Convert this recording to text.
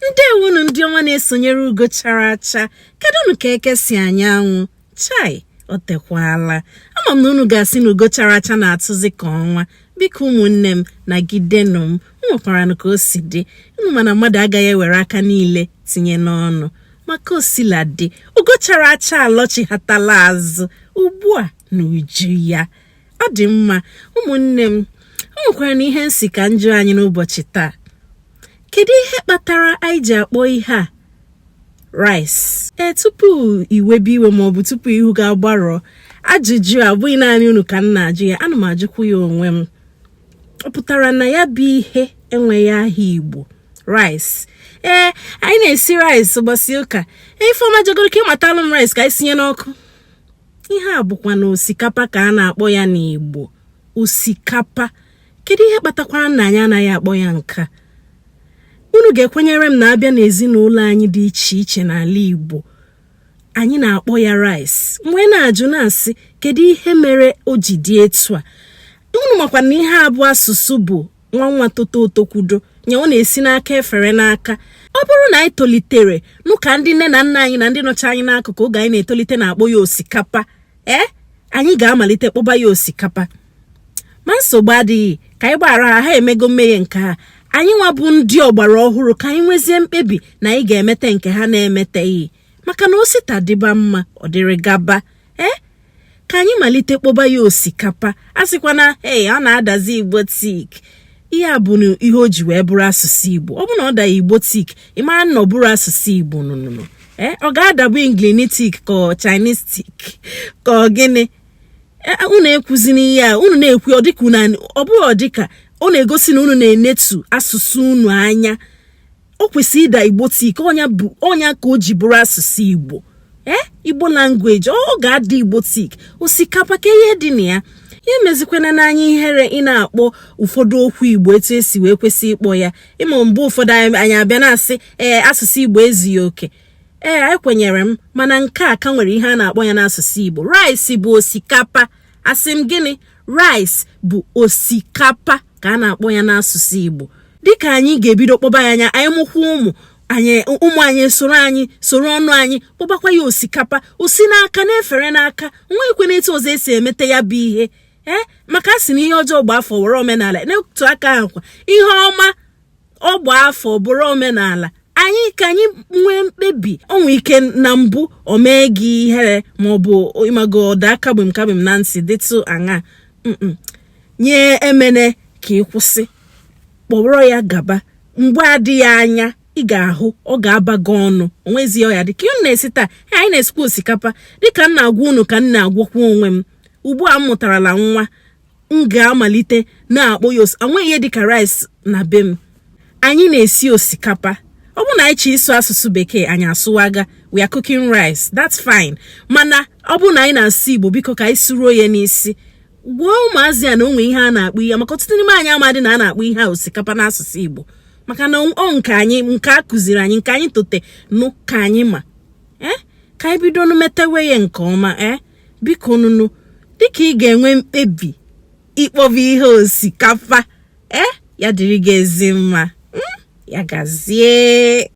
ndewonu ndị ọma na-esonyere ugo chara acha kedụnụ ka eke si anya anwụ chai o tekwala ama m na unu ga-asị na ugo chara acha na-atụzi ka ọnwa biko ụmụnne m nagidenụ m nwekwaranụ ka o si dị unu ma na mmadụ agaghị ewere aka niile tinye n'ọnụ ma ka o sila dị ugo chara acha alọchighatala azụ ugbu a n'uju ya ọ dị mma ụmụnne m o nwekwaranụ ihe m sị ka m jụọ anyị n'ụbọchị taa kedu ihe kpatara anyị ji akpọ ihe a rice ee tupu i webe iwe maọbụ tupu ihu gị agbarụọ ajụjụ a bụghị naanị unu ka m na-ajụ ya ana m ajụkwu ya onwe m ọ pụtara na ya bụ ihe enweghị aha igbo rice ee anyị na-esi rice ụbọchị ụka ifeọma jegoro ka ị matalụ m rice ka anyị sinye n'ọkụ ihe a bụkwanụ osikapa ka a na-akpọ ya n'igbo osikapa kedu ihe kpatakwara na anyị anaghị akpọ ya nke a unu ga-ekwenyere m na a bịa n'ezinụlọ anyị dị iche iche n'ala Igbo anyị na-akpọ ya rice m wee na-ajụ na-asị kedu ihe mere o ji dị etu a unu makwa na ihe a bụ asụsụ bụ nwa nwa toto o tokwudo nya ọ na-esi n'aka efere n'aka ọ bụrụ na anyị tolitere nụ ka ndị nne na nna anyị na ndị nọcha anyị n'akụkụ oge anyị na-etolite na-akpọ ya osikapa ee eh? anyị ga-amalite kpọba ya osikapa ma nsogbu adịghị ka anyị gbaghara ha ha emego mmehie nke ha anyị nwa bụ ndị ọgbara ọhụrụ ka anyị nwezie mkpebi na anyị ga-emete nke ha na-emeteghị maka na o si taa dịba mma ọ dịrị gaba ee eh? ka anyị malite kpọba ya osikapa asịkwana ee ọ na-adazi igbotic ihe a bụ ihe o ji wee bụrụ asụsụ igbo ọ bụ na ọ daghị igbotic ị mara na ọ bụrọ asụsụ igbo nụnụnụ ee eh, ọ ga-adabu Englishtic ka Chinesetic ka ọ gịnị eh, eh, unu ekwuzina ihe a unu na-ekwu ọ dịka unu ọ bụghị ọ dịka ọ na-egosi na unu na-enetu asụsụ unu anya o kwesịrị ịda igbotic ọ nya ka o ji bụrụ asụsụ igbo ee igbo language ọ ga-ada igbotic osikapa kee ihe dị na ya ya emezikwana anyị ihere ị na-akpọ ụfọdụ okwu igbo etu e si wee kwesị ịkpọ ya ị ma mgbe ụfọdụ anyị abịa na-asị ee asụsụ igbo ezughị oke ee anyị ekwenyere m mana nke a ka nwere ihe a na-akpọ ya n'asụsụ igbo rice bụ osikapa asị m gịnị rice bụ osikapa ka a na-akpọ ya n'asụsụ igbo dịka anyị ga-ebido kpọba ya nya anyị mụkwa ụmụ anyị ụmụ anyị soro anyị soro ọnụ anyị kpọbakwa ya osikapa o si n'aka na-efere n'aka o nweghịkwanụ etu ọzọ e si emeta ya bụ ihe ee maka a sị na ihe ọjọọ gbaa afọ were omenala n'otu aka ahụ kwa ihe ọma ọ gbaa afọ bụrụ omenala anyị ka anyị nwee mkpebi o nwe ike na mbụ o mee gị ihere maọbụ ị mago ọ daa kagbim kagbim na ntị dịtụ aṅaa ya emene ka ị kwụsị kpọrọ ya gaba mgbe adịghị anya ị ga-ahụ ọ ga-aba gị ọnụ o nwezi ọya gịnị ka unu na-esi taa anyị na-esikwa osikapa dịka m na-agwa unu ka m na-agwakwa onwe m ugbu a m mụtarala nwa m ga-amalite na-akpọ ya enweghị ihe dịka rice na be m anyị na-esi osikapa ọ bụrụ na anyị chọọ ịsụ asụsụ bekee anyị asụwaga we are cooking rice that's fine mana ọ bụrụ na anyị na-asụ igbo biko ka anyị sụruo ya n'isi gwa ụmụazị ya na o nwe ihe a na-akpọ ihe maka ọtụtụ n'ime anyị amadị na a na-akpọ ihe a osikapa n'asụsụ igbo maka na ọ nke anyị nke a kụziri anyị nke anyị tote nụ ka anyị ma ee eh? ka anyị bido nụ metewe ya nke ọma ee eh? biko nụnụ dịka ị ga-enwe mkpebi ịkpọba ihe osikapa e ya dịrị gị ezi mma hmm? ya gazie